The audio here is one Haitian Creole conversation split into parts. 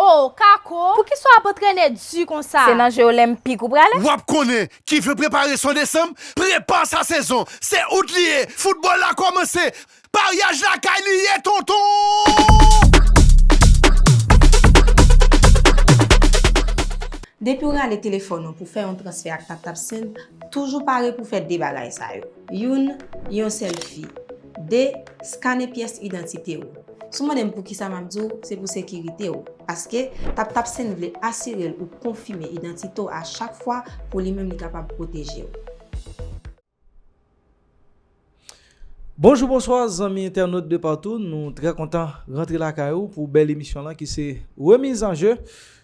Oh Kako, poukisa w ap antrene di konsa? Se nan je olenpik ou prale? Wap konnen ki vle prepare son desanm prepa sa sezon se out li ye foutbòl la kòmanse Maryaj lakay li ye tonton! Depi w rale telefòn ou pou fè yon transfè ak TapTap Send, toujou pare pou fè 2 bagay sa yo. Youn, yon sèlfi. 2, skane pyès idantite ou. Si w mande m poukisa m ap di w, se pou sekirite w. Paske, TapTap Send vle asire l ou konfime idantite w a chak fwa pou li menm li kapab pwoteje w. Bonjou bonswa zanmi entènot de patou nou trè kontan rantre lakay ou pou bèl emisyon lan ki se remiz an je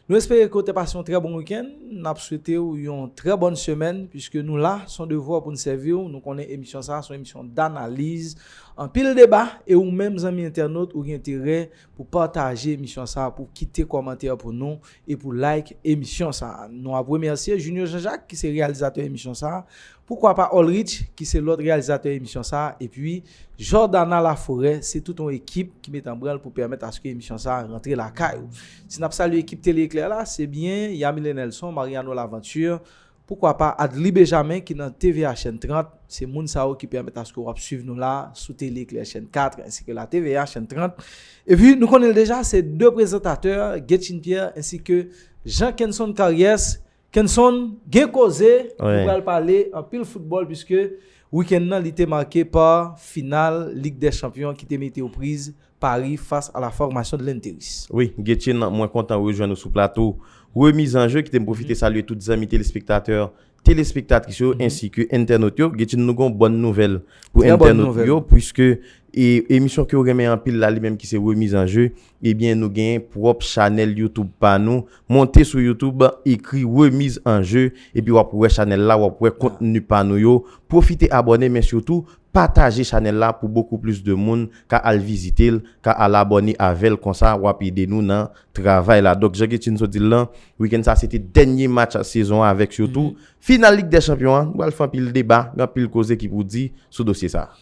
nou espere ke ou te pase yon trè bon wikenn n ap swete ou yon trè bòn semèn puiske nou la son devwa pou n sèvi ou nou konnen emisyon sa a son emisyon danaliz anpil deba e ou menm zanmi entènot ou gen enterè Pou pataje emisyon sa a, pou kite kòmantè pou nou e pou like emisyon sa a. Nou ap remèsye Junio Jean Jacques ki se reyalizatè emisyon sa a, poukwa pa Olrich ki se lòt reyalizatè emisyon sa a epi Jordana Laforêt, se tout yon ekip ki met anbranl pou pèmèt aske emisyon sa a rantre lakay ou. Si n ap salye ekip Tele Eclair la, se byen Yamile Nelson, Mariano Laventure, Poukwa pa Adly Bejamin ki nan TVA chèn 30, se moun sa yo ki pèmèt aske wap swiv nou la sou Tele Eklè chèn 4 ensi ke la TVA chèn 30. Epi nou konnen l deja se 2 prezantatè Guetchine Pierre ensi ke Jean Kenson Caries. Kenson gen koze, nou pral pale anpil foutbòl puiske wikenn nan li te make pa final Lig dè Chanpyon ki te mete yo priz Paris face à la formation de Lenteris. Wi Guetchie nan mwen kontan rejwenn ou sou plato Remiz an Je, kite m pwofite salye tout zanmi telespektatè, telespektatris yo ensi ke entènot yo. Guetchie nou gen yon bòn nouvèl pou entènot nou yo puiske e emisyon ke yo renmen anpil la li menm ki se Remiz an Je ebyen nou gen pwòp chanèl YouTube pa nou. Monte sou YouTube ekri Remiz an Je epi w ap wè chanèl la, w ap wè kontni pa nou yo. Pwofite abòne men sitou Pataje chanèl la pou bokou plis de moun ka al vizitel ka al abòne avèl konsa wap ede nou nan travay la donk jan Guetchine sot dil lan weekend sa se te dènye match sezon an avèk yo tou final lig dè chanpyon an nou pral fè anpil deba gen anpil koze ki pou di sou dosye sa.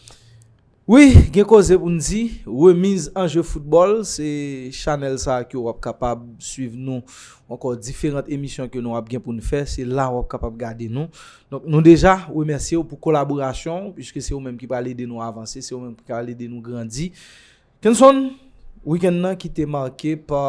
Wi gen koze poun di, remiz an je foutbòl se chanèl sa ke wap kapab swiv nou ankò diferant emisyon ke nou ap gen poun fè se la wap kapab gade nou Donk nou deja remèsye w pou kolaborasyon w piske se ou menm ki pral ede nou avanse, se ou menm ki pral ede nou grandi. Kenson, wikenn nan ki te make pa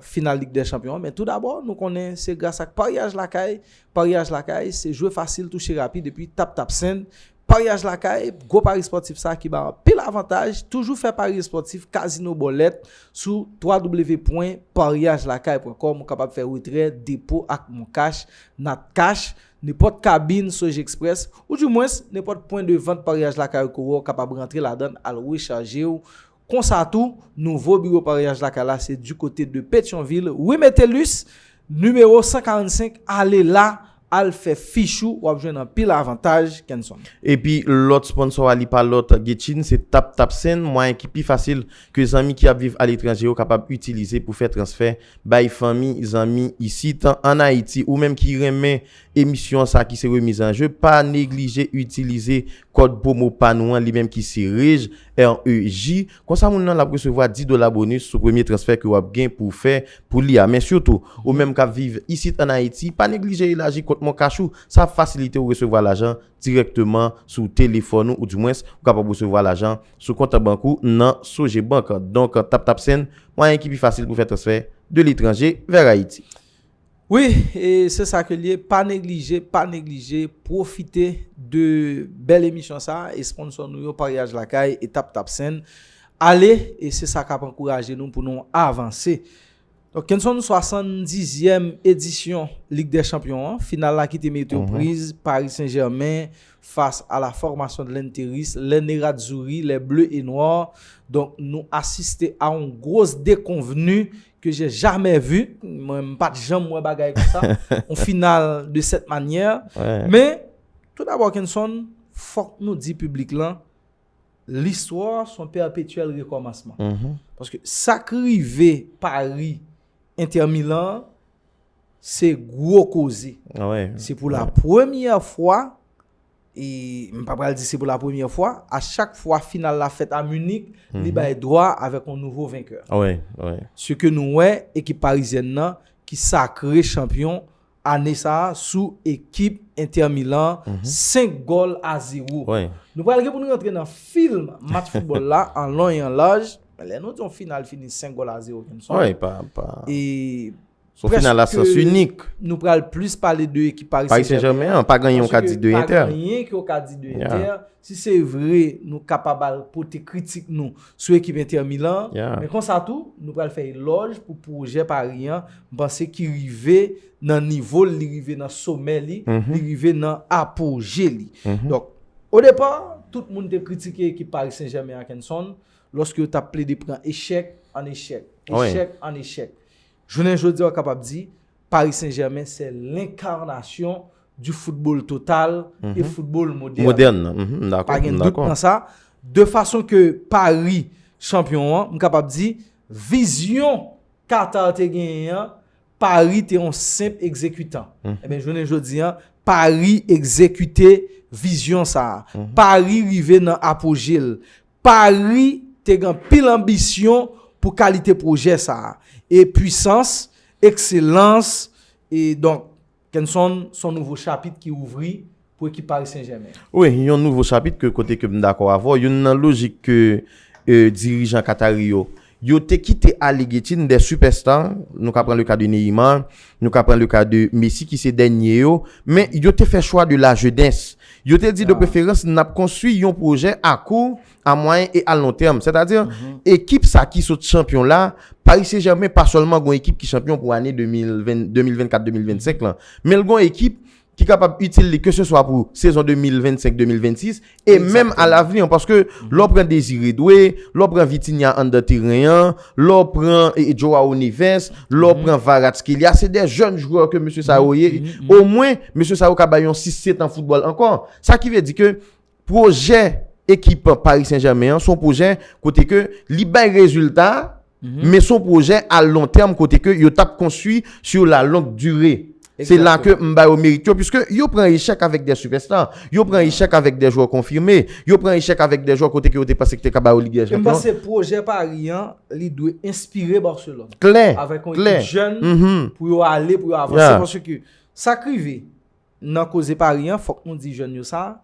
final Lig dè Chanpyon an men tou dabò nou konnen se gras ak paryaj lakay, paryaj lakay se jwe fasil touche rapid epi tap tap send Paryaj lakay, gwo pari spòtif sa ki bay anpil avantaj, toujou fè pari espòtif kazino bòlèt sou www.paryajlakay.com ou kapab fè retrè, depo ak moncash, natcash, nenpòt kabin Sogexpress ou di mwens nenpòt pwen de vant paryaj lakay ou ko wè ou kapab rantre ladann al rechaje ou Konsa tou, nouvo biwo paryaj lakay la se du kote de Petyonvil, rue Metellus, nimewo 145, ale la, al fè fich ou, wap jwenn anpil avantaj, Kenson. Epi lòt sponsò a li pa lòt Getchine, se Tap Tap Send, mwayen ki pi fasil ke zanmi ki ap viv aletranje yo kapab itilize pou fè transfè bay fanmi, zanmi isit an Ayiti. Ou menm ki renmen emisyon sa ki se Remise en jeu, pa neglije itilize kòd pwomo pa nou an li menm ki se REJ, REJ, konsa moun nan l ap resevwa 10 dola bonus sou premye transfè ke w ap gen pou w fè pou li a. Men sitou, ou menm k ap viv isit an Ayiti, pa neglije elaji kont moncash ou. Sa ap fasilite ou resevwa lajan dirèkteman sou telefòn ou, oudimwens, ou kapab resevwa lajan sou kont bank ou nan Sogebank. Donk, TapTapSend, mwayen ki pi fasil pou fè transfè de letranje vèr Ayiti. Wi e se sa ke l ye pa neglije pa neglije pwofite de bèl emisyon sa esponnsò nou yo paryaj lakay etap tapsen ale e se sa k ap ankouraje nou pou nou avanse donk kenson 70 zièm edisyon lig dè chanpyon an final la ki te mete ou priz pari sen jèmen fas a la fòmasyon de lènteris lè neradzouri lè ble e nwa donk nou asiste a yon gwos dekonvni que j'ai jamais vu mwen m pat janm wè bagay konsa on final de cette manière men tout d'abord Kenson fòk nou di piblik lan l'histoire son perpétuel recommencement paske sa k rive Paris Inter Milan an se gwo koze se pou la premyè fwa e m pa pral di se pou la premyè fwa, a chak fwa final la fèt a Munich, li bay dwa avèk yon nouvo venkè. Se ke nou wè ekip parizyèn nan ki sakre chanpyon ane sa a sou ekip Inter Milan, 5 gòl a 0. Nou pral gen pou nou rantre nan film match foutbòl la an lon e an laj, men lè nou di yon final fini 5 gòl a 0 kèm sò. Son final a sens inik. Prèske nou pral plis pale de ekip Paris Saint-Germain. Paris Saint-Germain an, pa gen yon ka di de Inter. Paske pa gen yon ki ou ka di de Inter. Si se vre nou kapab al pote kritik nou sou ekip Inter Milan an. Men konsa tou, nou pral fè elòj pou pwojè Paris an. M panse ki rive nan nivo l, li rive nan somè li, li rive nan apoje li. Donk, o depa, tout moun te kritike ekip Paris Saint-Germain an Kenson, lòske yo t ap plede pran echèk an echèk, echèk an echèk. Jounen jodi a ou kapab di Paris Saint Germain se lenkarnasyon di foutbol total e foutbol modern nan. Pa gen dout nan sa. De fason ke Paris chanpyon an, m kapab di vizyon Qatar te genyen an, Paris te yon senp ekzekitan. Ebyen jounen jodi a, Paris ekzekite vizyon sa a. Paris rive nan apoje l. Pari te gen anpil anbisyon pou kalite pwojè sa a, e pwisans, ekselans, e donk. Kenson, s on nouvo chapit ki ouvri pou ekip Pari Sen Jèmen. Wi, yon nouvo chapit ke kote ke m dakò avè w, youn nan lojik ke dirijan Katari yo Yo te kite Allegretti n dè superstar, nou ka pran le ka de Neymar, nou ka pran le ka de Messi ki se dènye yo, men yo te fè chwa de la jeunès. Yo te di de preferans nap konstwi yon pwojè a kou, a mwayen e a lon tèm. Sètadi, ekip sa ki sot chanpyon la, Paris Saint Germain pa sèlman gon ekip ki chanpyon pou ane 2024-2025 lan, men l gon ekip ki kapab itil li keseswa pou sezon 2025-2026, e menm a lavni an, paske lè w pran Désiré Doué, lè w pran Vitinha anndan teren an, lè w pran Joao Neves, lè w pran Kvaratskhelia, se de jèn jwè ke mesye sa yo ye, omwen mesye sa yo ka bay yon 6-7 an foutbòl ankò. Sa ki vle di ke Pwojè ekip Paris Saint Germain an son pwojè kote ke li bay rezilta, men son pwojè a lon tèm kote ke yo tap konstwi sur la longue durée. Se la ke m ba yo merit yo, puiske yo pran echèk avèk dè sipèsta, yo pran echèk avèk dè jwè konfime, yo pran echèk avèk dè jwè kote ke yo te panse ki te ka ba yo Ligue des Champions. E m panse pwojè Paris an, li dwe enspire Barcelone. Klè, klè. Avèk yon ekip jèn pou yo ale, pou yo avanse, paske sa k rive, Nan koze pari an fòk nou di jèn yo sa,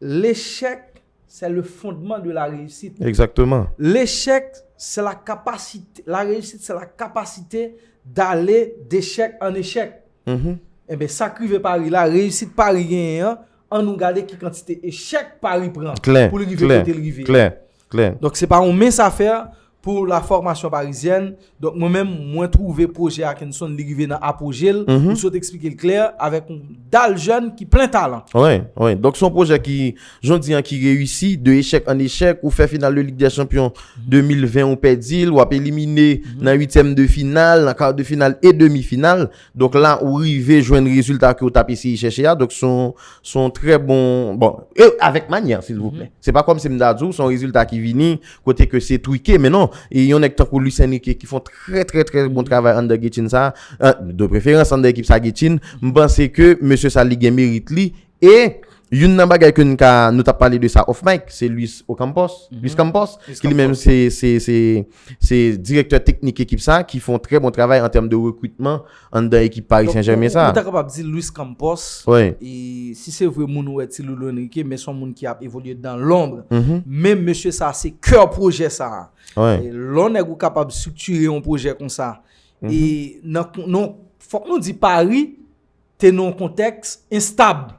Lechèk sè le fondman de la reyisit. Egzakteman. Lechèk sè la kapasite, la reyisit sè la kapasite dale dechèk an echèk. Enben sa k rive pari la, reyisit pari genyen an, an nou gade ki kantite echèk pari pran pou li rive kote li rive a. Klè, klè, klè. Klè. Donk se pa yon mens afè pou la fòmasyon parizyèn. Donk mwen menm mwen twouve pwojè a Kenson li rive nan apwoje l. Ou sot eksplike l klè avèk yon dal jèn ki plen talan. Wi, wi. Donk se yon pwojè ki jodi an ki reyisi de echèk an echèk. Ou fè final de Lig dè Chanpyon 2020 ou pèdi l. Wap elimine nan uityèm de final, nan kar de final e demi final. Donk la ou rive jwenn rezilta ke ou tap eseye chèche a, donk son son trè bon, bon, e avèk manyè silvouplè. Se pa kòmsi m ta di w son rezilta ki vini kote ke se trike men non, e yon nèg tankou Luis Enrique ki fon trè trè trè bon travay anndan Gethin sa, de preferans anndan ekip sa Gethin, m panse ke mesye sa li gen merit li E, youn nan bagay ke n ka, nou tap pale de sa off mic, se Luis Ocampos, Luis Campos, ki li menm se, se, se, se direktè teknik ekip sa, ki fon trè bon travay an tèm de rekritman anndan ekip Paris Saint Germain sa. Donk, ou ta kapab di Luis Campos, e, si se vre moun ou wè ti Loulou Enrique, men son moun ki ap evolye dan lonbre, men mesye sa se kè pwojè sa. E, lè w nèg ou kapab striktire yon pwojè konsa, e, nan, nan, fòk nou di Paris, te nan yon kontèks enstab.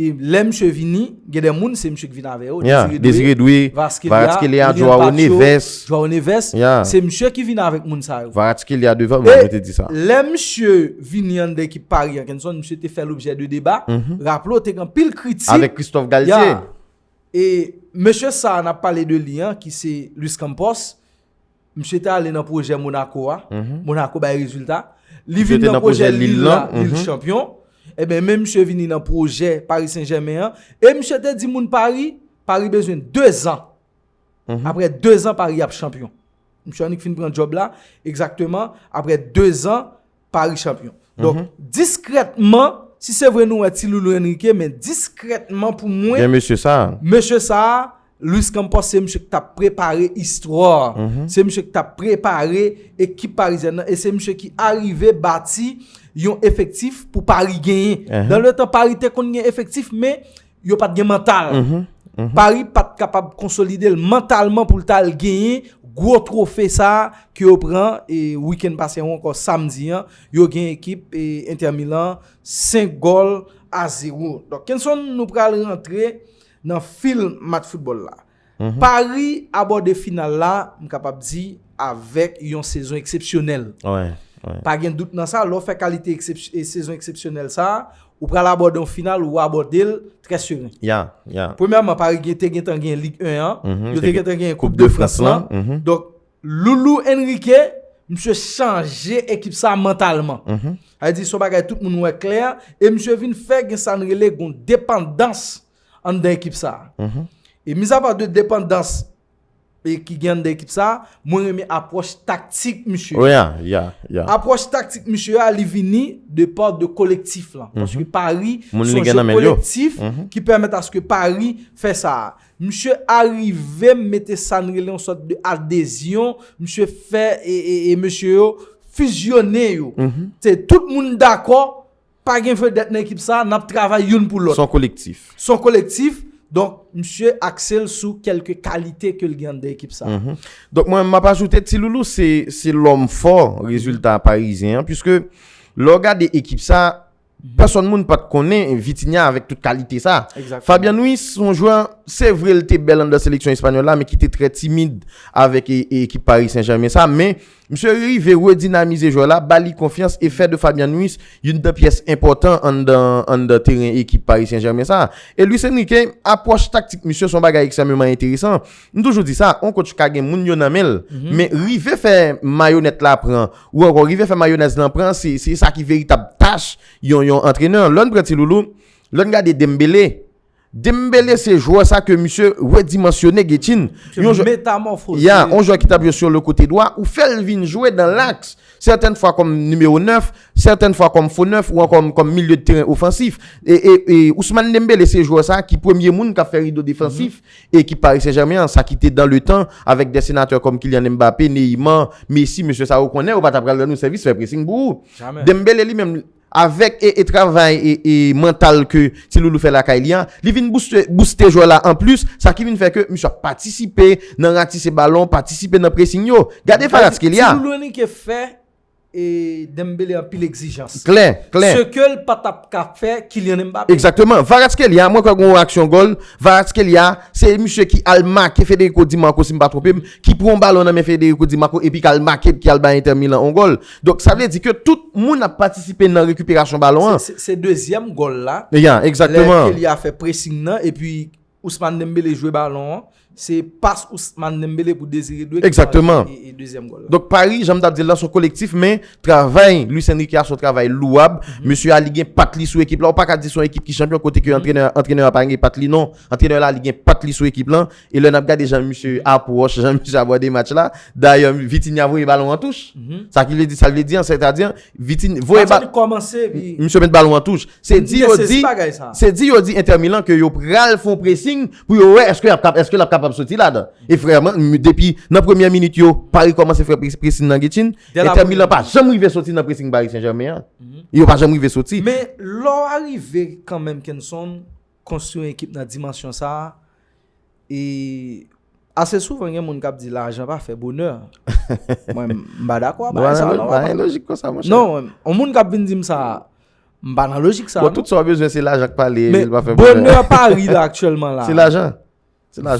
E lè misye vini, gen de moun se misye ki vini avè yo. Ya, Désiré Doué, Kvaratskhelia, Joao Neves. Joao Neves. Ya. Se misye ki vini avèk moun sa yo. Kvaratskhelia devan, mwen mwen te di sa. E lè misye vini anndan ekip Paris an, Kenson, misye te fè lobjè de deba. Raple w te gen anpil kritik. Avèk Christophe Galtier. Ya. E mesye sa a n ap pale de li an ki se Luis Campos, Misye te ale nan pwojè Monaco a, Monaco bay rezilta. Li vin nan pwojè Lille la, Lille chanpyon. E ben men misye vini nan pwojè Paris Saint-Germain an. E misye te di moun Paris, Paris bezwen 2 zan. Apre 2 zan Paris ap chanpyon. Misye annik fin pran job la, egzakteman, apre 2 zan. Paris champion. Donk, mhm. diskrètman, si se vre nou wè ti loulou Enrique, men diskrètman pou mwen... Gen mesye sa. Mesye sa, Luis Campos se msye ki ta prepare istwa. Mhm. Se msye ki ta prepare ekip parizè nan. E se msye ki arive bati yon efektif pou Paris genyen. Mhm. Dan le tan Paris te kon gen efektif, men yo pat gen mantal. Paris pat kapab konsolide l mantalman pou l ta al genyen gwo twofe sa ke yo pran wikenn pase an ou ankò samdi an, yo gen ekip Inter Milan 5 gòl a 0. Donk Kenson nou pral rantre nan fil match foutbòl la. Paris abòde final la, m kapab di, avèk yon sezon eksepsyonèl. Pa gen dout nan sa, lè w fè kalite sezon eksepsyonèl sa, ou pral abòde yon final, ou abòde l trè seren. Premyèman, Paris te gentan gen Ligue 1 an, yo te gentan gen Coupe de France lan. Donk, Loulou Enrique, misye chanje ekip sa mantalman. Sa vle di, s on bagay tout moun wè klè, e misye vin fè gen sa n rele yon depandans anndan ekip sa. E mizapa de depandans ki gen anndan ekip sa, mwen renmen apwòch taktik misye. Wè ya, ya, ya. Apwòch taktik misye ya li vini de part de kolektif lan. Paske Pari son jè kolektif ki pèmèt aske Pari fè sa. Misye arive mete sa n rele yon sòt de adezyon, misye fè e mesye yo fizyone yo. Te tout moun dakò. Pa gen vedèt nan ekip sa a, n ap travay youn pou lòt. S on kolektif. S on kolektif, donk misye akse l sou kèlke kalite ke l gen anndan ekip sa a. Donk mwen menm m ap ajoute Ti Loulou se lòm fò rezilta Parizyen an piske lè w gade ekip sa a, pèsonn moun pa t konnen Vitinha avèk tout kalite sa a. Egzakteman. Fabian Ruiz s on jwè, se vre l te bèl anndan seleksyon espanyòl la men ki te trè timid avèk ekip Pari Sen Jèmen sa a men Misye rive redinamize jwè la, ba li konfyans e fè de Fabian Ruiz youn nan pyès enpòtan anndan teren ekip Paris Saint-Germain sa a. E Luis Enrique, apwòch taktik misye se yon bagay ekstrèmeman enteresan. M toujou di sa, yon kotch ka gen moun yo nan men l, men rive fè mayonèt la pran, ou ankò rive fè mayonèz lan pran, se sa ki veritab tach yon antrenè. Lè n pran Ti Loulou, lè n gade Dembele, Dembele se jwè sa ke misye redimansyone Getjin. Se yon metamòfoze. Ya, yon jwè ki tap jwe sou le kote dwa, ou fèl vin jwe dan laks. Sètèn fwa kòm nimewo 9, sètèn fwa kòm fo 9 ou ankò kòm milye de teren ofansif. E Ousmane Dembele se jwè sa ki premye moun kap fè rido defansif ekip Paris Saint Germain an, sa ki te dan le tan avèk dè senatè kòm Kylian Mbappé, Neymar, Messi, mesye sa yo konnen yo pa ta pral rann ou sèvis fè pressing pou ou. Dembele li menm li. Avèk travay mantal ke Ti Loulou fè lakay li an, li vin bouste jwè la anplis, sa ki vin fè ke misye ap patisipe nan ratise balon, patisipe nan presing yo. Gade Kvaratskhelia! Ti Loulou Henrique fè Dembele anpil egzijans. Klè, klè. Se ke l pa t ap ka fè Kylian Mbappé. Egzakteman. Kvaratskhelia, mwen kwè gen yon aksyon gòl. Kvaratskhelia, se misye ki al make Federico Di Marco, si m pa twonpe m, ki pran yon balon nan men Federico Di Marco epi k al make, ki al bay Inter Milan yon gòl. Donk sa vle di ke tout moun ap patisipe nan rekiperasyon balon an. Se dezyèm gòl la. Ya, egzakteman. Lè Kelly a fè pressing nan epi Ousmane Dembele jwe balon an, se pas Ousmane Dembele pou Désiré Doué ki marke dezyèm gòl la. Donk Paris, jan m t ap di l lan, se yon kolektif men travay Luis Enrique a se yon travay louwab. Mesye a li gen pat li sou ekip la. Ou pa ka di se yon ekip ki chanpyon kote ke antrenè a pa gen pat li non. Antrenè la li gen pat li sou ekip lan. E lè n ap gade jan misye apwòch, jan misye abòde match la, dayè Vitinha voye balon an touch. Sa ki vle di, sa l vle di an, sètadi an, Vitinha voye balon. Match la te kòmanse epi. Misye met balon an touch. Se di yo di. Se di yo di Inter Milan ke yo pral fè yon pressing pou yo wè èske l ap kapab soti ladan. E frèman, depi nan premyè minit yo, Paris kòmanse fè pressing nan Guichin. Inter Milan pa janm rive soti nan pressing Paris Saint-Germain an. Yo pa janm rive soti. Men lè w arive kanmenm Kenson. Konstwi yon ekip nan dimansyon sa a, e ase souvan gen moun k ap di lajan pa fè bonè. Mwen m pa dakò a bagay sa a non. Pa gen lojik konsa monchè. Non, yon moun k ap vin di m sa a, m pa nan lojik sa a non. Bon, tout sa w bezwen se lajan k pale, vil pa fè bonè. Men, bonè pa rive aktyèlman la. Se lajan.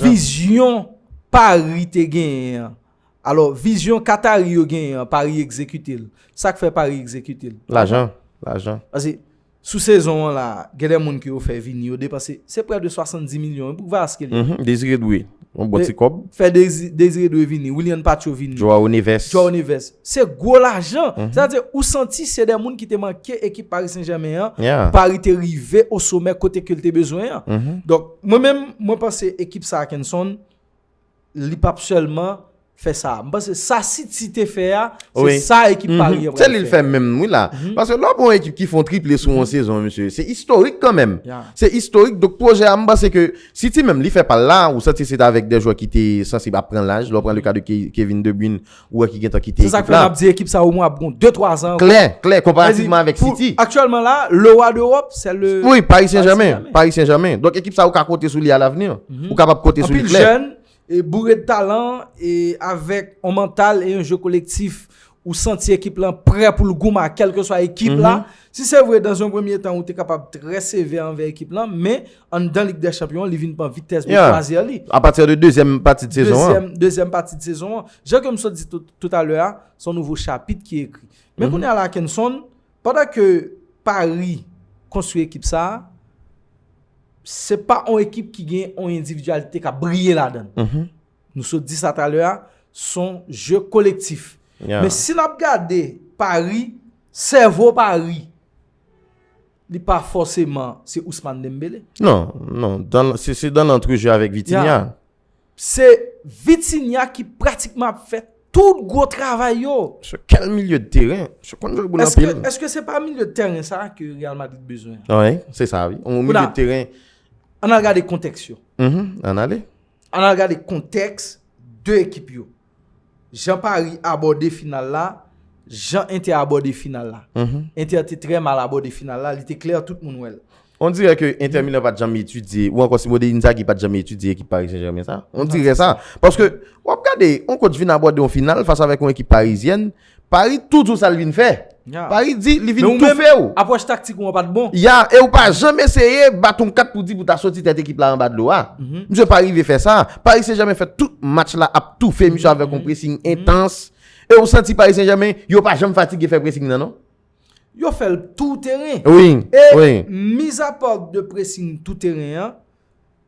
Vizyon Pari te genyen an. Alò, vizyon Katari yo genyen an, Pari egzekite l. Sa k fè Pari egzekite l? Lajan. Lajan. Pase, sou sezon an la a, gen de moun ke yo fè vini, yo depanse, se prè de 70 milyon. E pou Kvaras ki la? Dezire Dwe. Yon bon ti kòb. Fè Dezire Dwe vini. Willian Pacho vini. Joao Neves. Joao Neves. Se gwo lajan. Se ta di ou santi se de moun ki te manke ekip Paris Saint-Germain an. Paris te rive o somè kote ke l te bezwen an. Donk mwen menm mwen panse ekip sa Kenson li pap selman fè sa. Mwen panse sa City te fè a se sa ekip Paris an pral fè. Se li l fè menm wi la. Paske lè w gon ekip ki fon triple sou yon sezon mesye se istorik kanmenm. Se istorik donk pwojè a mwen panse ke City menm li fè pa l la ou santi se t avèk de jwè ki te sansib ap pran laj. Lè w pran le ka de Kevin De Bruyne Ou wè ki gen tan kite ekip la. Se sa k fè m ap di ekip sa omwen ap gon 2, 3 zan ankò. Klè, klè, konparativman avèk City. Aktyèlman la, le roi d'Europe, se le. Wi, Paris Saint-Germain. Paris Saint-Germain. Donk ekip sa ou ka konte sou li a lavni. Ou kapab konte sou li klè. Anpil jèn, e boure de talan, e avèk on mantal e yon jeu kolektif. Ou santi ekip lan prè pou l goumen ak kèlkeswa ekip la. Si se vre, dan zon premye tan ou te kapab trè sevè anvè ekip lan, men Anndan Lig dè Chanpyon an, li vin pran vitès pou kwazyè li. A pati de dezyèm pati de sezon an. Dezyèm pati de sezon an. Jan ke m sot di tout a lè a, son nouvo chapit ki ekri. Men kounye a la Kenson, pandan ke Paris konstwi ekip sa, se pa yon ekip ki gen yon individualite ka briye la dan. Nou sot di sa ta lè a, son je kolektif. Men si n ap gade Paris, sèvo Paris. Li pa fòseman se Ousmane Dembélé. Non, non, se dan nan trejè avèk Vitinha. Se Vitinha ki pratikman ap fè tout gwo travay yo. Se kèl milye de teren. Se konn jwe boul anpil. Eske se pa milye de teren sa a ke Real Madrid bezwen? Wi, se sa a wi. Ou milye de teren. An al gade kontèks yo. An ale. An al gade kontèks de ekip yo. Jan Paris abòde final la, jan Inter abòde final la. Inter te trè mal abòde final la, li te klè tout moun wè l. On dirè ke Inter Milan pat janm etidye, ou ankò Simone Inzaghi pat janm etidye ekip Paris Saint-Germain sa. On dirè sa. Paske, wap gade, on kotch vin abòde on final fas avèk on ekip Parizyèn, Paris tou di w sa l vin fè. Paris di li vin toufe w. Apwòch taktik ou an pa t bon. Ya, e ou pa janm eseye bat yon kat pou di pou ta soti tèt ekip la anba dlo a. Misye pa rive fè sa. Paris Saint-Germain fè tout match la ap toufe misye avèk yon pressing entans. E ou santi Paris Saint-Germain yo pa janm fatige fè pressing nan non. Yo fè l tou teren. E mizapar de pressing tou teren an.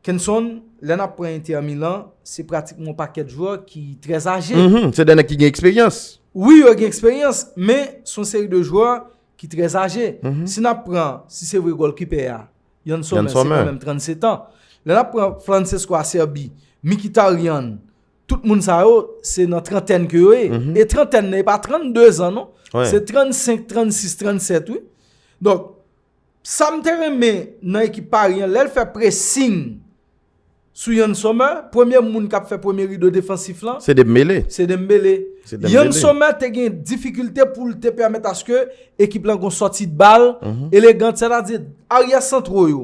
Kenson, lè n ap pran Inter Milan, se pratikman yon pakèt jwè ki trè aje. Se de nèg ki gen eksperyans. Wi, yo gen eksperyans, men se yon seri de jwè ki trè aje. Si n ap pran, si se vre gòlkipè a, Yann Sommer, se kanmenm 37 an. Lè n ap pran Francesco Acerbi, Mkhitaryan, tout moun sa yo, se nan trantèn ke yo ye. E trantèn nan, e pa 32 zan non. Se 35, 36, 37 wi. Donk. Sam te renmen nan ekip Paris an lèl fè pressing sou Yann Sommer, premye moun kap fè premye rido defansif lan, Se Dembele. se Dembele. Se Dembele. Yann Sommer te gen difikilte poul te pèmèt aske ekip lan gon sòti de bal elegant, sètadi aryè santro yo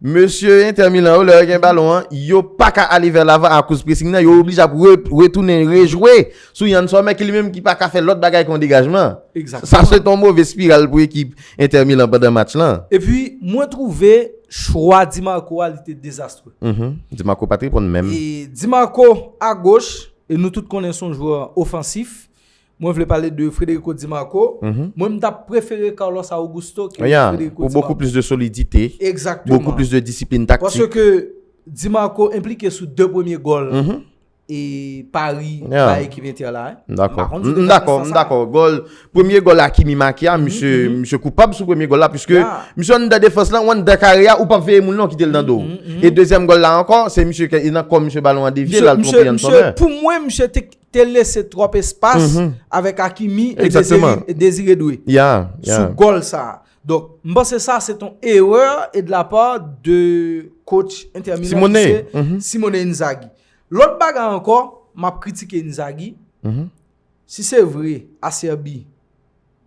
Mesye Inter Milan yo lè yo gen balon an, yo pa ka ale vè lavan akoz pressing nan, yo oblije ap retounen rejwe sou Yann Sommer ki li menm ki pa ka fè lòt bagay ke yon degajman. Sa se te yon move spiral pou ekip Inter Milan pandan match lan. Epi mwen twouve chwa Di Marco a li te dezastre. Di Marco pa t reponn menm. Di Marco a goch, e nou tout konnen son jwè ofansif, Mwen vle pale de Frederico Di Marco. Mwen m tap prefere Carlos Augusto ke Frederico Di Marco. Pou bokou plis de solidite. Exactement. Bokou plis de disiplin taktik. Paske ke Di Marco implike sou 2 premye gol e pari bay ekip Inter la. M dako. M dako. M dako. Gol. Premye gol Hakimi make a. Misye. Misye koupab sou premye gol la. Piske. Misye an dan defans lan. Ou an dan kare a. Ou pap veye moun lan. Ou kite l dan do. E dezyem gol la anko. Se misye ke. E nan ko misye balon an devye. Misye. Misye. Pou mwen misye te. te lese twòp espas avèk Hakimi e Desiredue sou gòl sa. Donk, m panse sa se ton erè e de la pa de coach Inter Milan ki se Simone Inzaghi. Lòt bagay ankò, m ap kritike Inzaghi, si se vre Acerbi,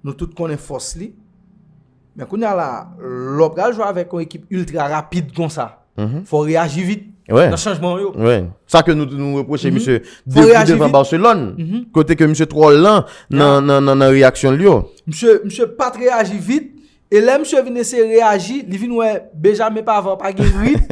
Nou tout konnen fòs li. Men kounye a la, lè w pral jwe avèk yon ekip iltra rapid konsa, fò w reyaji vit nan chanjman w yo. Wè, sa ke nou nou repwoche misye depi devan Barcelone, kote ke misye twò lan nan reyaksyon li yo. Misye pat reyaji vit, e lè misye vin eseye reyaji, li vin wè Benjamin Pavard pa gen rit.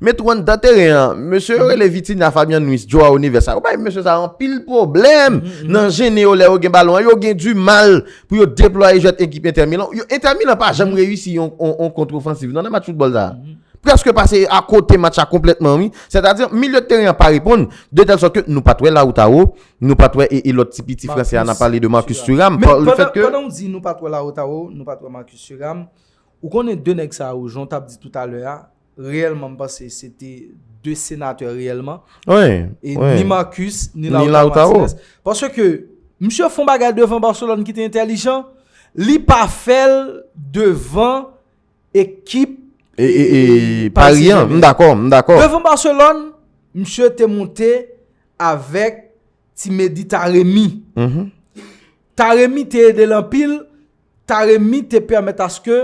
Met Juan dan teren an. Mesye yo rele Vitinha, Fabian Ruiz, Joao Neves sa yo bay mesye sa yo anpil pwoblèm nan jennen yo lè yo gen balon an. Yo gen di mal pou yo deplwaye jwèt ekip Inter Milan. Inter Milan pa janm reyisi yon kontrofansiv nan nan match foutbòl sa a. Prèske pase a kote match la konplètman wi. Sètadi milye teren an pa reponn de tèl sòt ke nou pa t wè Lautaro, nou pa t wè e lòt ti piti fransè a nan pale de Marcus Thuram. Men pandan ou di nou pa t wè Lautaro, nou pa t wè Marcus Thuram, ou konnen 2 nèg sa yo jan w t ap di toutalè a, reyèlman m panse se te 2 senatè reyèlman. Wi, wi. Ni Marcus, ni Lautaro Martinez. Paske ke, misye fon bagay devan Barcelone ki te entèlijan, li pa fèl devan ekip Paris Saint-Germain. M dakò, m dakò. Devan Barcelone, misye te monte avèk ti Mehdi Taremi. Taremi te ede l anpil, Taremi te pèmèt aske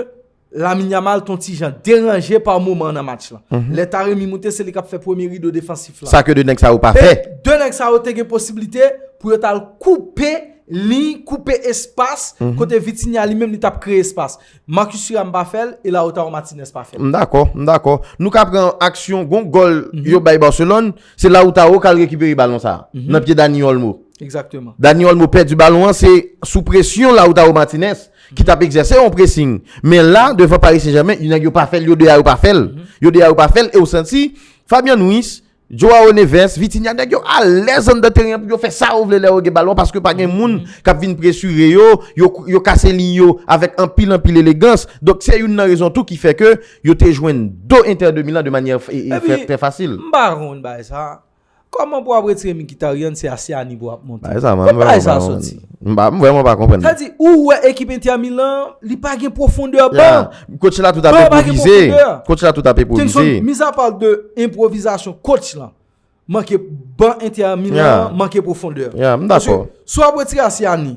Lamine Yamal ton ti jan deranje pa moman nan match lan. Lè Taremi moute se li kap fè premye rido defansif lan. Sa ke 2 nèg sa yo pa fè. E 2 nèg sa yo te gen posiblite pou yo tal koupe liy, koupe espas kote Vitinha li menm li tap kreye espas. Marcus Thuram pa fèl e Lautaro Martinez pa fèl. M dakò, m dakò. Nou ka pran aksyon gon gòl yo bay Barcelone, se Lautaro kal rekipere balon sa nan pye Dani Olmo. Exactement. Dani Olmo pèdi balon an se sou presyon Lautaro Martinez. ki tap egzèse yon presing men la devan Paris Saint Germain yon nèg yo pa fèl yo 2 a yo pa fèl yo 2 a yo pa fèl e ou santi Fabian Ruiz Joao Neves Vitinha nèg yo alèz anndan teren pou yo fè sa yo vle lè yo gen balon paske pa gen moun kap vin presire yo yo kase liy yo avèk anpil anpil elegans donk se youn nan rezon tou ki fè ke yo te jwenn do Inter de Milan de manyè trè fasil. Epi m pa konprann bagay sa Koman pou ap retire Mkhitaryan se a Siani pou ap monte. Bagay sa mwen vreman pa konprann. Kot bagay sa a soti? M vreman pa konprann. Sa di ou wè ekip Inter Milan li pa gen pwofondè ban. Coach la tout ap enprovize. Coach la tout ap enprovize. Mizapa de enprovizasyon coach la manke ban Inter Milan manke pwofondè. M dakò. Si w ap retire a Siani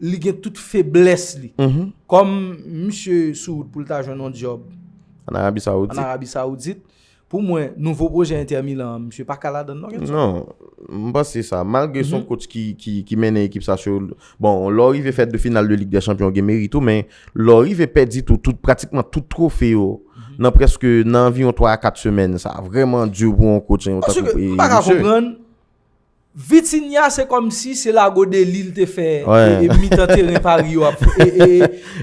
li gen tout feblès li. Kòm misye sou wout pou l ta jwenn yon djòb an Arabi Sawoudit, pou mwen nouvo pwojè Inter Milan an, misye pa ka ladan l non Genson. Non, m panse sa. Malgre s on kotch ki mennen ekip sa sou, bon, lè w rive fè 2 final de Lig dè Chanpyon w gen merit ou, men lè w rive pèdi tou tout, pratikman tout twofe yo nan prèske, nan anviwon 3 a 4 semèn, sa vrèman di pou yon kotch tankou misye. Paske m pa ka konprann Vitinha se kòmsi se lago deli l te fè e mitan teren Paris yo ap fè e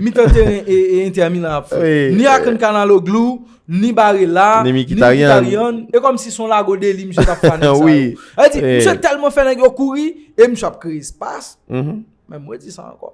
mitan teren e Inter Milan ap fè ni ak n Canaloglu ni Barella ni Mkhitaryan e kòmsi son lago deli misye tap fè a nèg sa yo sa vle di misye tèlman fè nèg yo kouri e misye ap kreye espas men mwen di sa ankò.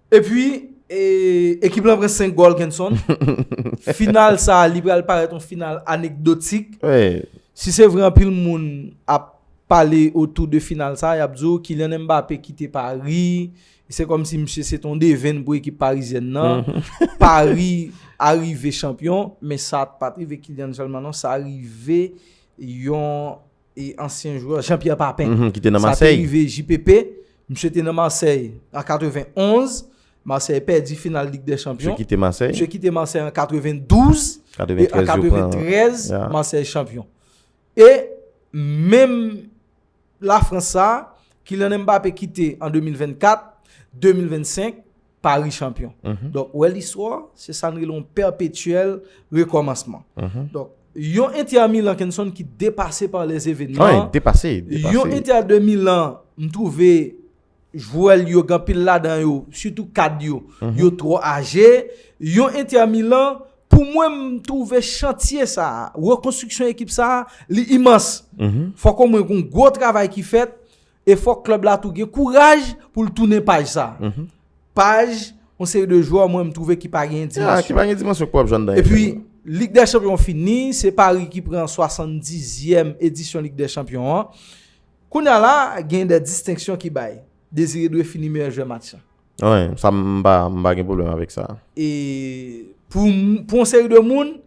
Epi ekip lan pran 5 gòl Kenson. Final sa li pral parèt yon final anekdotik. Si se vre anpil moun ap pale otou de final sa yap di w Kylian Mbappé kite Paris. Se kòm si misye se te yon devenn pou ekip parizyèn nan. Paris a rive chanpyon men sa pat rive Kylian sèlman non sa rive yon e ansyen jwè Jean Pierre Papin. Mh ki te nan Marseille. Sa te rive JPP. Misye te nan Marseille an 91. Marseille pèdi final Ligue des Champions. Misye kite Marseille. Misye kite Marseille an 92. 93 yo pran. E an 93 Marseille champion. E menm la France sa a, Kylian Mbappé kite an 2024, 2025. Paris champion. Donk, wè listwa, se sa n rele yon pèpetyèl rekòmansman. Donk, yon Inter a Milan, Kenson, ki depase pa lè zevènman. An, depase, depase. Yon Inter a 2 Milan, m twouve, jwè l yo, gen pil ladan yo, sitou kad yo, yo twò aje. Yon Inter a Milan, pou mwen m twouve chantye sa, rekonstriksyon ekip sa, li imans. Fòk ou mwen kon gwo travay ki fèt. E fòk klèb la tou gen kouraj pou l tounen paj sa. Paj yon seri de jwè mwen m twouve ki pa gen dimansyon. Ki pa gen dimansyon pou w ap jwenn nan yon klèb. Epi, Lig dè Chanpyon fini, se Pari ki pran 70 zièm edisyon Lig dè Chanpyon an. Kounye a la, gen de distenksyon ki bay. Désiré Doué fini meyè jwè match la. Wi, sa m pa gen pwoblèm avèk sa. E pou yon seri de moun.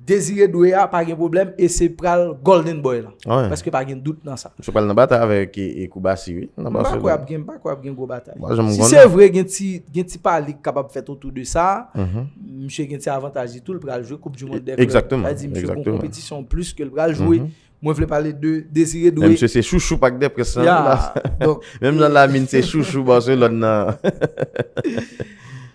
Désiré Doué a pa gen pwoblèm e se pral Golden Boy lan. Paske pa gen dout nan sa. Misye pral nan batay avèk Koubarsy wi. M pa kwè ap gen, m pa kwè ap gen gwo batay. Si se vre gen ti, gen ti pale k kapab fèt otou de sa, misye gen ti avantaj li tou l pral jwe koup di mond dè klèb. Egzakteman. Sa di misye gon konpetisyon plis ke l pral jwe. Mwen vle pale de Désiré Doué. Misye se chouchou pak dè près lan. Menm jan Lamine se chouchou Barcelone nan.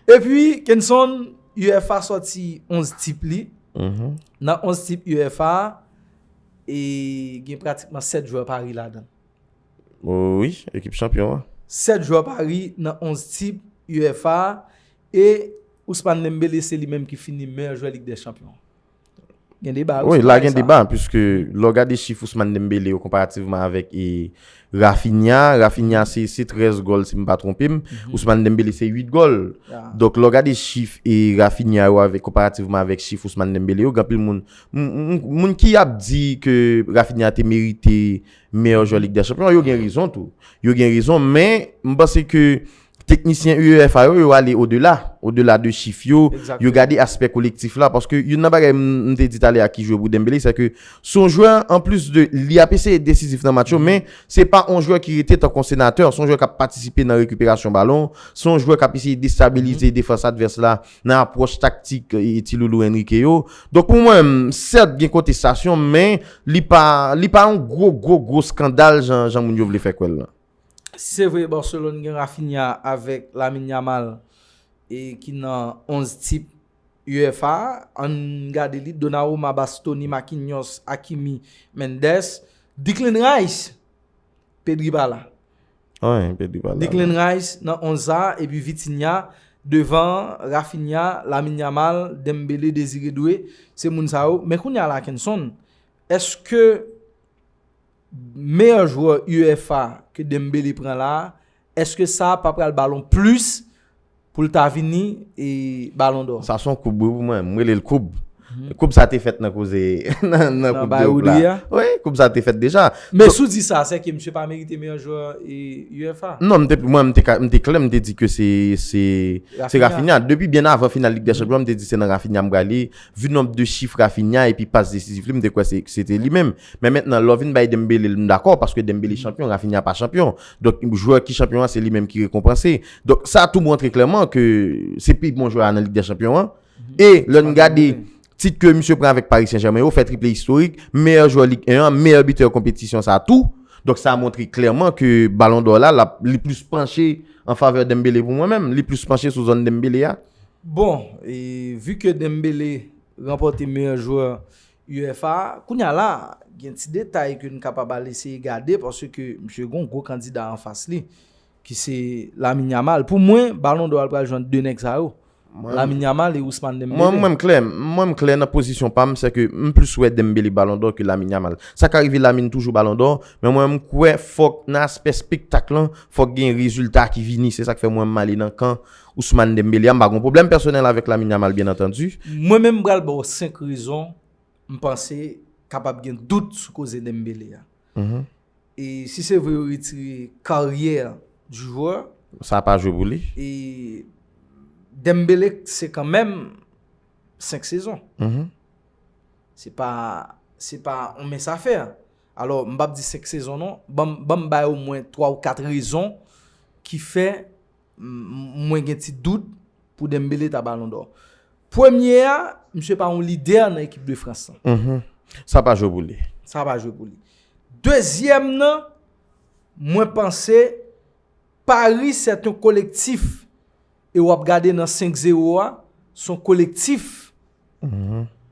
E pi Kenson. UEFA sòti 11 tip li. Nan 11 tip UEFA a, e gen pratikman 7 jwè Paris ladan. Wi, ekip chanpyon an. 7 jwè Paris nan 11 tip UEFA a, e Ousmane Dembélé se li menm ki fini meyè jwè Lig dè Chanpyon an. Gen deba wi sou bagay sa. Wi, la gen deba, pwiske lò gade chif Ousmane Dembele yo konparativman avèk e Rafinha, Rafinha se 13 gòl si m pa twonpe m, Ousmane Dembele se 8 gòl. Donk lò gade chif e Rafinha yo avèk konparativman avèk chif Ousmane Dembele yo, gen anpil moun, moun ki ap di ke Rafinha te merite meyò jwè Lig dè Chanpyon, yo gen rezon tou. Yo gen rezon, men m panse ke Teknisyen UEFA yo, yo ale odela, odela de chif yo, yo gade aspè kolektif la, paske youn nan bagay m te di talè a ki jwe pou Dembele, se ke se yon jwè an plis de li ap eseye desizif nan match yo, men se pa yon jwè ki rete tankou yon senatè, se yon jwè k ap patisipe nan rekiperasyon balon, se yon jwè k ap eseye destabilize defans advès la nan apwòch taktik ti loulou Enrique yo. Donk pou mwen menm, sèt gen kontestasyon, men li pa yon gwo gwo gwo skandal jan moun yo vle fè kwè l lan. Se vre Barcelone gen Raphinha avèk Lamine Yamal e ki nan 11 tip UEFA a, ann gade li, Donnarumma, Bastoni, Marquinhos, Hakimi, Mendes, Declan Rice, Pedri pa la. Wen, Pedri pa la. Declan Rice nan 11 sa a epi Vitinha devan Raphinha, Lamine Yamal, Dembele, Desire Doue, se moun sa yo. Men kounye a la Kenson, èske meyè jwè UEFA ke Dembele pran la, eske sa pa pral ba l on plis pou l ta vini balon dò? Sa son koub wi pou mwen, m rele l koub. Koub sa te fèt nan koze nan koub de oub la. Wi, koub sa te fèt deja. Men sou di sa, sè ke misye pa merite meyè jwè UEFA? Non, mwen m te klè, m te di ke se Rafinha. Depi byen avan final Ligue des Champions, m te di se nan Rafinha m prale. Vu nomb de chif Rafinha epi pas desizif li, m te kwè se te li menm. Men mentnan lò vin bay Dembele l m dakò paske Dembele chanpyon Raphinha pa chanpyon. Donk jwè ki chanpyon an se li menm ki rekonpanse. Donk sa tou montre klèman ke se pi bon jwè a nan Lig dè Chanpyon an. E lè n gade tit ke misye pran avèk Paris Saint Germain yo, fè triple istorik, meyè jwè Lig 1 an, meyè bitè konpetisyon sa tou. Donk sa montre klèman ke balon dò la lap li plis panche an favè Dembele pou mwen menm. Li plis panche sou zòn Dembele a. Bon, e vu ke Dembele ranpòte meyè jwè UFA, kounye a la, gen ti detay ke n kapab al eseye gade paske misye gen yon gwo kandida anfas li ki se Lamine Yamal. Pou mwen, balon dò a l pral jwenn 2 nèg sa yo, Lamine Yamal e Ousmane Dembele. Mwen m klè, mwen m klè nan pozisyon pa m, sèke m plis wè Dembele balon dò ke Lamine Yamal. Sa ka rive Lamine toujou balon dò, men mwen m kwè fòk nan aspè spektak lan, fòk gen rezilta ki vini. Se sa k fè mwen m ale nan kan Ousmane Dembélé a m pa gon pwoblèm pèsonèl avèk Lamine Yamal byen antandi. Mwen menm m pral ba w 5 rezon m panse kapab gen dout sou koze Dembélé a. E si se vre yo retire karyè du joueur. Sa pa jwe pou li. E Dembélé se kan menm 5 sezon. Se pa se pa yon mens a fè. Alò m pap di 5 sezon non. Ban m bay omwen 3 ou 4 rezon ki fè Mwen gen ti dout pou Dembele ta balon dò. Premye a, misye pa yon lidè nan ekip de Frans lan. Sa pa jwe pou li. Sa pa jwe pou li. Dezyèm nan, mwen panse Paris se ton kolektif e wap gade nan 5 zero a, son kolektif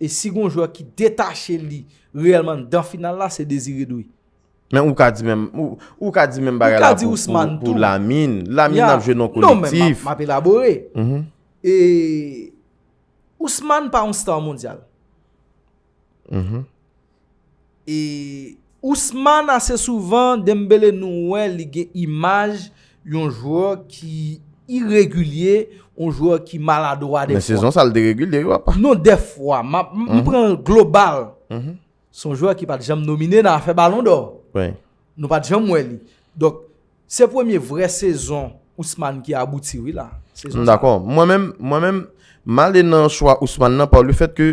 e si gon jwè ki detache li reyèlman nan final la se Désiré Doué. Men ou ka di menm, ou ka di menm bagay la pou Lamine. Lamine ap jwe nan kolektif. Non men, m ap elabore. E, Ousmane pa yon star mondial. E, Ousmane ase souvan, Dembele nou wè li gen imaj yon jwè ki iregilye, yon jwè ki maladwa defwa. Men sezon sa l deregilye yo apa. Non defwa, m pran global. Se yon jwè ki pa t janm nomine nan afè balon dò. Nou pa t janm wè li. Donk, se premye vrè sezon Ousmane ki abouti wi la. M dakò. Mwen menm, mwen menm, m ale nan chwa Ousmane nan pa le fèt ke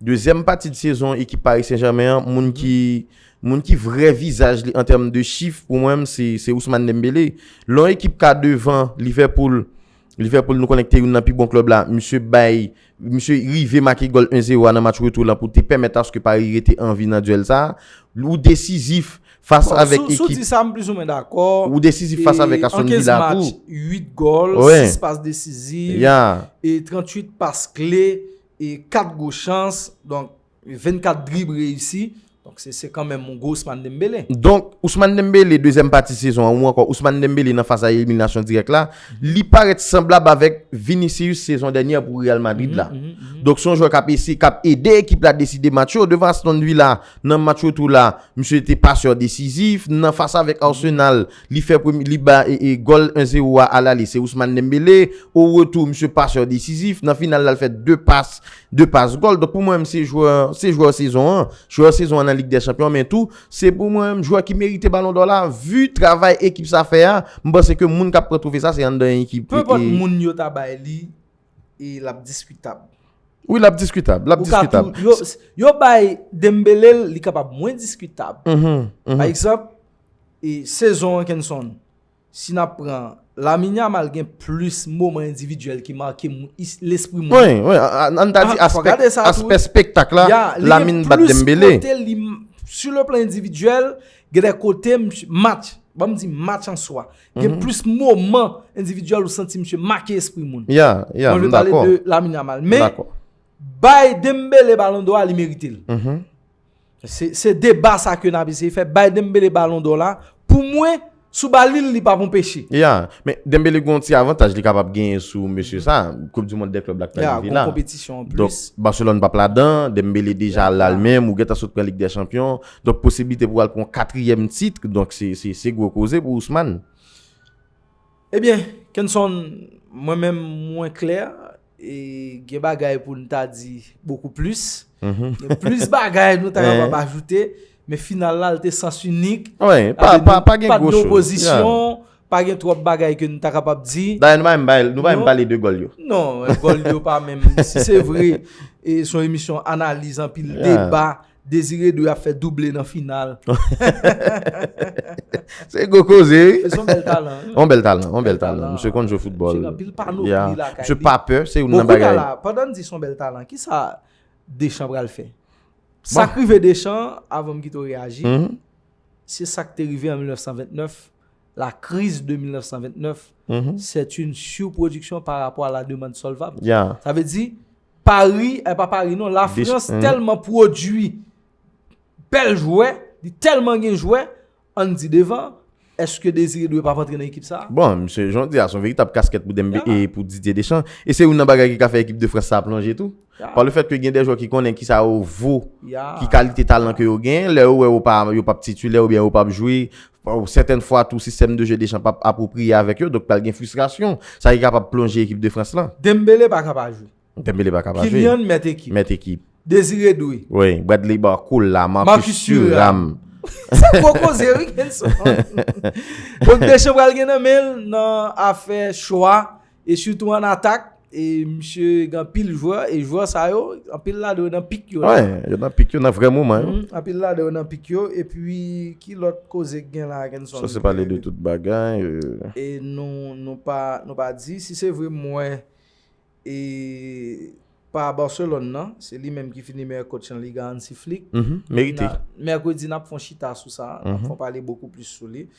dezyèm pati de sezon ekip Paris Saint-Germain an, moun ki, moun ki vrè vizaj li an tèm de chif pou mwen menm se Ousmane Dembélé. Lè yon ekip ka devan Liverpool Liverpool nou konnen ki te youn nan pi bon klèb la, misye bay, misye rive make gòl 1 zero a nan match retou lan pou te pèmèt aske Paris rete an vi nan duèl sa a. Ou desizif fas avèk ekip. Bon, si w di sa m plizoumwen dakò. Ou desizif fas avèk Aston Villa tou. E an 15 match, 8 gòl, 6 pas desizif, e 38 pas kle, e 4 gwo chans. Donk, 24 drib reyisi, donk se se kanmenm yon gwo Ousmane Dembélé. Donk, Ousmane Dembélé, dezyèm pati sezon an ou ankò Ousmane Dembélé nan faz a eliminasyon dirèk la, li parèt sanblab avèk Vinicius sezon dènyè pou Real Madrid la. Donk se yon jwè k ap ese, k ap ede ekip la deside match yo. Devan Aston Villa, nan match retou la, misye te pasè desizif. Nan fas avèk Arsenal, Li fè premye li ba gòl 1 zero a alale se Ousmane Dembele, o retou misye paseur desizif, nan final la l fè 2 pas 2 pas gòl, donk pou mwen menm se jwè se jwè sezon an, jwè sezon an nan lig dè chanpyon men tou se pou mwen menm jwè ki merite balon dò la vu travay ekip sa fè a, m panse ke moun kap pran twofe sa se anndan ekip e. Penpòt moun yo ta bay li e lap diskitab. Wi lap diskitab, lap diskitab. Yo bay Dembele l li kapab mwen diskitab, pa egzanp. E sezon an Kenson, si nap pran, Lamine Yamal gen plis moman endividyèl ki make lespri moun. Wi, wi, an ta di aspè spektak la, Lamine bat Dembele. Su le plan endividyèl, gen de kote msye match, ban m di match an swa, gen plis moman endividyèl ou santi msye make espri moun. Ya, ya, m dakò. Mwen pale de Lamine Yamal. Men, bay Dembele balon do a li merite l. Se deba sa ke nap eseye fè, bay Dembele balon dò la, pou mwen sou ba li l li pap anpeche. Ya, men Dembele gen yon ti avantaj li kapab genyen sou mesye sa, koup di mond dè klèb la k pral rive la. Ya, gon konpetisyon anplis. Donk Barcelone pap ladan, Dembele deja la l menm, ou gentan sot pran lig dè chanpyon, donk posiblite pou al pran yon katriyèm titre, donk se gwo koze pou Ousmane. Ebyen, Kenson, mwen menm mwen klè. E gen bagay pou nou ta di bokou plis. Gen plis bagay nou ta kapab ajoute. Men final la li te sans unik. Wi, pa gen gwo chou. Pa gen opozisyon. Pa gen twòp bagay ke nou ta kapab di. Dayè nou pa menm bay, nou pa menm pale de gòl yo. Non, gòl yo pa menm. Si se vre, son emisyon analiz anpil deba. Désiré dwe ap fè double nan final. Se gwo koze wi. Mesye on bèl talan. On bèl talan, on bèl talan. Misye konn jwe foutbòl. Misye gen anpil panopli lakay li. Yeah. Misye pa pè, se youn nan bagay. Bon kounye a la, pandan n di son bèl talan, kisa Deschamps pral fè? Sa k rive Deschamps, avan m kite w reyaji, se sa k te rive an 1929, la crise de 1929, c'est une surproduction par rapport à la demande solvable. Yeah. Sa vle di, Pari, eh pa pari non, la frans tèlman pwodui bèl jwè, li tèlman gen jwè, an n di devan, èske Désiré Doué pa p antre nan ekip sa a? Bon, msye, jan w di a, son veritab kaskèt pou Dembe e pou Didier Deschamps, e se youn nan bagay ki ka fè ekip de Frans sa a plonje tou, pa le fèt ke gen de jwè ki konnen ki sa yo vo, ki kalite talan ke yo gen, lè yo wè yo pa, yo pa p titulè oubyen yo pa p jwe, Ou sèten fwa tou sistèm de je Deschamps pa p apwopriye avèk yo, donk pral gen fristrasyon, sa ki kapab plonje ekip de Frans lan. Dembele pa ka pa jwe. Dembele pa ka pa jwe. Kylian mèt ekip. Mèt ekip. Désiré Doué. Wi, Bradley Barcola, Marcus Thuram. Se gwo koze wi Kenson. Donk Deschamps pral gen nan men l nan afè chwa E sitou an atak, e misye gen anpil jwè, e jwè sa yo, anpil la do nan pik yo. Wen, yo nan pik yo, nan vrè moman yo. Anpil la do nan pik yo, e pi ki lòt koze gen la gen son. Sa se pale de tout bagay. E nou, nou pa, nou pa di, si se vre mwen, e pa Barcelone nan, se li menm ki fini meyè coach lan liga an si flick. Merite. Mercredi nap fon chita sou sa, nap fon pale bokou plis sou li.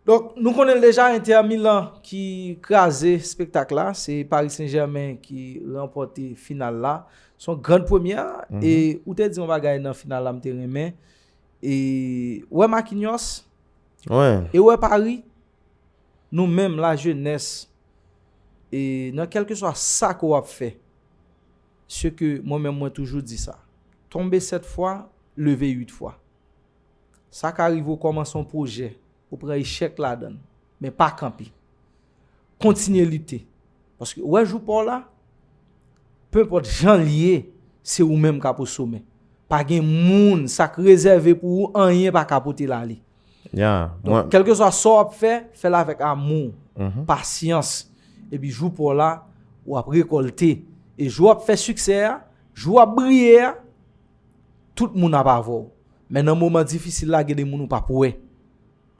Donk nou konnen l deja Inter Milan ki kraze spektak la, se Paris Saint Germain ki ranpòte final la, son grand premyè, e ou te di yon bagay nan final la m te renmen, e ou wè Marquinhos, e ou wè Paris, nou menm la jenès, e nan kèlkeswa sa ke w ap fè, se ke mwen menm mwen toujou di sa, tonbe 7 fwa, leve 8 fwa. Sa ka rive ou kòmanse yon pwojè, ou pran echèk ladan l, men pa kanpe. Kontinye lite. Paske ou wè jou pa w la, penpòt jan l ye, se ou menm k ap osomè. Pa gen moun, sa k rezève pou ou, anyen pa ka pote l ale. Donk, kèlkeswa sa w ap fè, fè l avèk amou, pasyans. Epi jou pa w la, w ap rekòlte. E jou w ap fè siksè a, jou w ap briye a. Tout moun ap avè w. Men nan moman difisil la gen de moun ou p ap wè.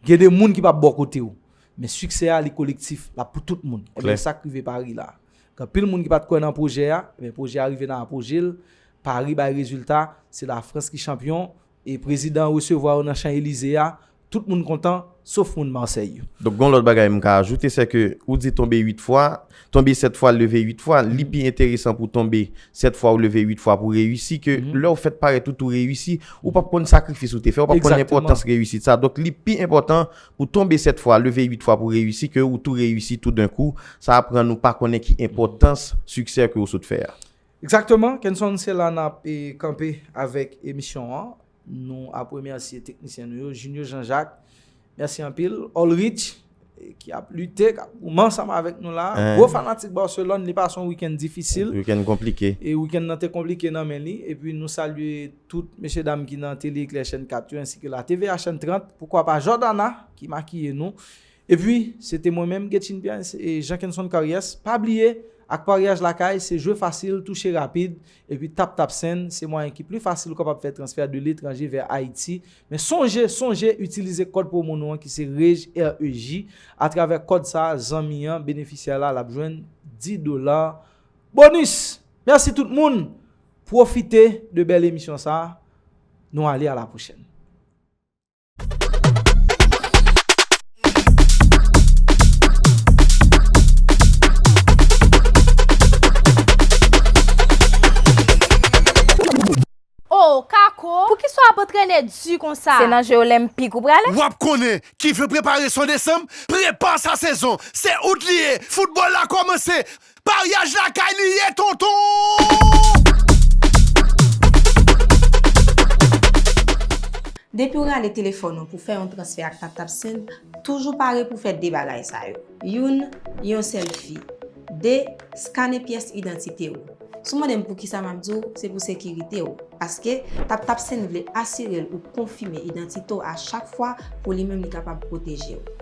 Gen de moun ki p ap bò kote w. Men siksè a li kolektif, l ap pou tout moun. E men sa k rive Paris la. Gen anpil moun ki pa t kwè nan pwojè a, e men pwojè a rive nan apoje l. Paris bay rezilta, se Lafrans ki chanpyon. E prezidan resevwa yo nan Chan Elize a, Tout moun kontan, sof moun Marseille yo. Donk gon lòt bagay m ka ajoute, sè ke ou di tonbe 8 fwa, tonbe 7 fwa, leve 8 fwa, li pi enteresan pou tonbe 7 fwa ou leve 8 fwa pou reyisi ke lè ou fèt parèt ou tou reyisi, ou pap konn sakrifis ou te fè, ou pap konn enpòtans reyisit sa. Donk li pi enpòtan pou tonbe 7 fwa, leve 8 fwa pou reyisi ke ou tou reyisi tou den kou, sa ap rann ou pa konnen ki enpòtans siksè ke ou sot fè a. Ekzakteman, Kenson se la nap kanpe avèk emisyon an. Nou ap remèsye teknisyen nou yo, Junio Jean Jacques, mèsi anpil. Olrich, ki ap lite, ki ap goumen ansanm avèk nou la. Gwo fanatik Barcelone, li pase yon weekend difisil. Weekend konplike. E weekend nan te konplike nan men li. E pi nou salye tout mesye dam ki nan Tele Eclair chèn 4 yo, ensi ke la TVA chèn 30, poukwa pa Jordana ki makiye nou. E pi, se te mwen menm, Guetchine Pierre, e Jean Kenson Karyès. Pa bliye, ak paryaj lakay, se jwe fasil, touche rapid. Epi TapTapSend se mwayen ki pli fasil ou kapab fè transfè de letranje vè Ayiti. Men sonje, sonje itilize kòd pwomo nou an ki se REJ, REJ. Atravè kòd sa a, zanmi an, benefisyè la, l ap jwenn 10 dola bonis! Mèsi tout moun! Pwofite de bèl emisyon sa a. Nou ale a la pwochèn. Oh Kako, poukisa w ap antrene di konsa? Se nan je olenpik ou prale? W ap konnen, ki vle prepare son desanm, prepa sa sezon! Se out li ye, foutbòl la kòmanse! Paryaj lakay li ye tonton. Depiw rale telefòn ou pou fè yon transfè ak TapTap Send, toujou pare pou fè 2 bagay sa yo. Youn, yon selfi. 2, skane pyès idantite ou. Si w mande m poukisa map di w, se pou sekirite w. Paske, TapTap Send vle asire l ou konfime idantite w a chak fwa pou li menm li kapab pwoteje w.